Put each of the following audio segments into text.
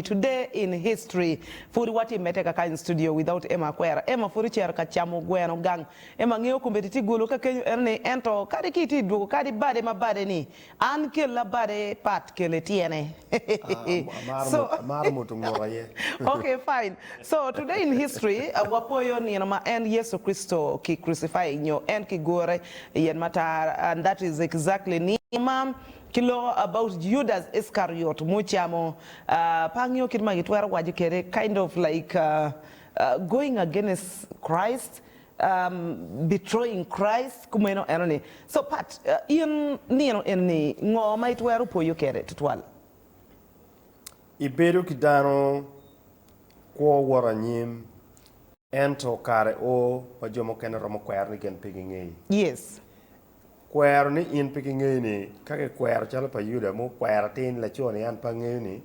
Today in History, Pud watye medde kaka in studio without Emma Akwera, Emma pud ocito ka camo gweno gang, Emma ngeyo kombeddi tye golo ka kenyo eno ni ento kadi ki itye dwogo kadi bade ma bade ni an kela bade pat kele tyene so Amaro moto ngut aye. Ok fine so today in history wapoyo nino ma en Yecu Kricito ki crucify nyo en ki gure iyen matar and that is exactly nino ma Ki loko about Judas Iscariot mucamo par nio kit ma kitwero waco kede kind of like going against Christ, betraying Christ kumeno eno ni so part in nino eno ni ngo ma itwero poyo kede tutwal? Ibedo ki dano kwo wot anyim. Ento kare oo ma jo mukene romo kwero ni gen pe gingeyi. Yes. Kwero ni in pe gingeyi ni, ka kikwero calo pa Yuda ma okwero atir ni laco ni an pe angeyo ni,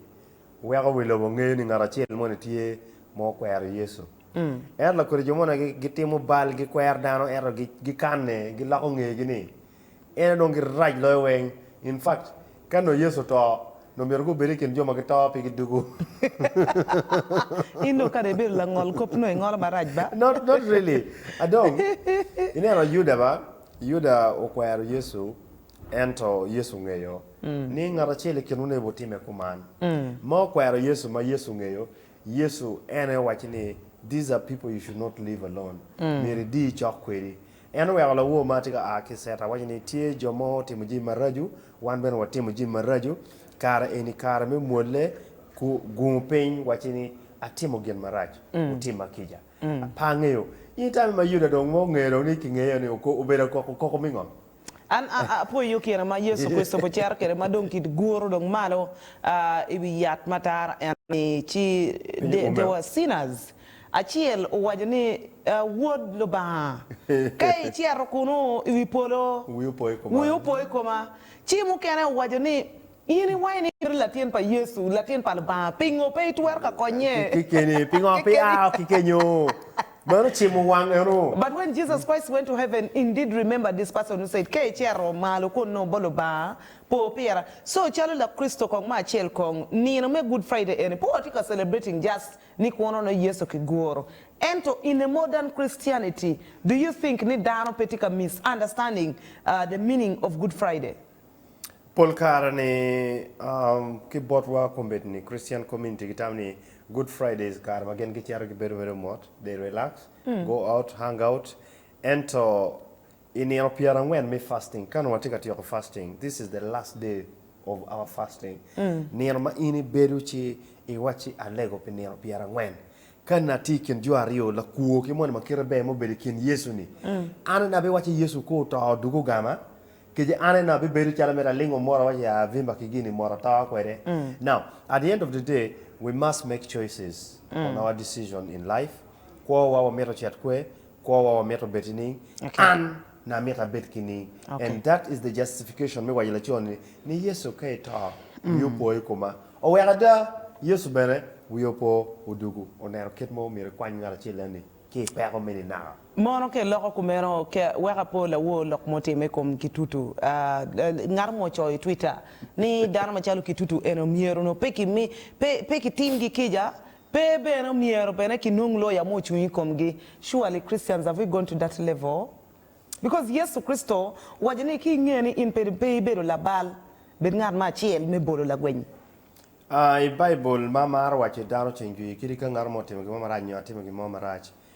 weko wi lobo ngeyo ni ngat acel mo ni tye ma okwero Yecu. Ento lakwede jo moni gitimo bal, gikwero dano ento gikanne, giloko ngegi ni, En aye dong girac loyo weng. In fact, ka nongo Yecu oto, nongo myero gubed i kin jo ma gito pigi dugu. In dong kara ibedo langol kop nongo ingolo marac ba. Not, not really. A dong, ineno Yuda ba? Yuda okwero Yecu, ento Yecu ongeyo ni ngat acel i kinwu nongo bitimme kuman. Ma okwero Yecu ma Yecu ongeyo, Yecu en aye owacci ni, These are people you should not leave alone. Myero idi icok kwedi. En oweko lawo ma tye ka a ki Ceta waco ni, Tye jo mo otimo jami maraco, wan bene watimo jami maraco. Kare eni kare me mwolle. Gungo piny, wacci ni, 'Atimo gin marac. Wutimma kica. Pe angeyo. In itami ma Yuda dong ma ongeyo dong ni kingeyo ni obedo koko me ngo? An apwoyo kine ma Yecu Kricito ocito kwede ma dong kiguro dong malo i wi yat matar eni ci they were sinners. Acel owaco ni, Wod Lubanga, ka icito kunnu i wi polo, wi opo i koma. Ci mukene owaco ni, In iwaco ni in i latin pa Yecu, Latin pa Lubanga, pingo pe itwero ka konye kekeni? Pingo pe ia oko ki kenyo? Meno ocimo wang eno. But when Jesus Christ went to heaven, in did remember this person who said, Ka icito malo kunnu bot Lubanga, po pira. So calo Lakricito kong ma acel kong, nino me Good Friday eni pe watye ka celebrating just Ni kwono ne Yesu ki goro. Ento in a modern Christianity do you think ni dano pe tye ka miss understanding the meaning of Good Friday? Pol kare ni ki botwa kombeddi ni Christian community ki tamo ni Good Friday is kare ma gin ki cito ki bedo mere mot, they relax, go out, hang out, ento I nino pyera angwen me fasting, ka nongo watye ka tyeko fasting, this is the last day of our fasting, nino ma in ibedo ci iwacci alego pi nino pyera angwen, ka in atye i kin jo aryo, lakwo ki moni ma kite ber ma obedo i kin Yecu ni, an aye abiwacci Yecu ka oto dok ogama, kece an aye abibedo calo mere alingo mot awaco ya avimba ki gini mot ato kwede. Now, at the end of the day, we must make choices on our decision in life, kwowa wamito cet kwer, Kwowa wa mito bed ni an na mito abed ki ni and that is the justification me waco laco ni ni Yecu ka ito wi opo i koma oweko ada Yecu bene wiye opo odugu oneno kit mo omyero ikwany ngat acel enni ki i peko me ni naka. Mono ka iloko kumeno ka weko apo lawor lok mo time i kom Kitutu ngat mo ocoyo i twitter ni dano macalo Kitutu eni omyero onongo pe kimi pe pe kitim gi kica Pe bene omyero bene ki nong lawyer mo ocung i komgi, surely Christians have we gone to that level? Because Yesu Kricito owaco ni ki inge ni in pe ibedo labal, bed ngat me acel me bolo lagwenyi. I Baibul, ma amaro waco ni dano oceng jwi kadi ka ngat mo otimo gin mo marac nyo atimo gin mo marac.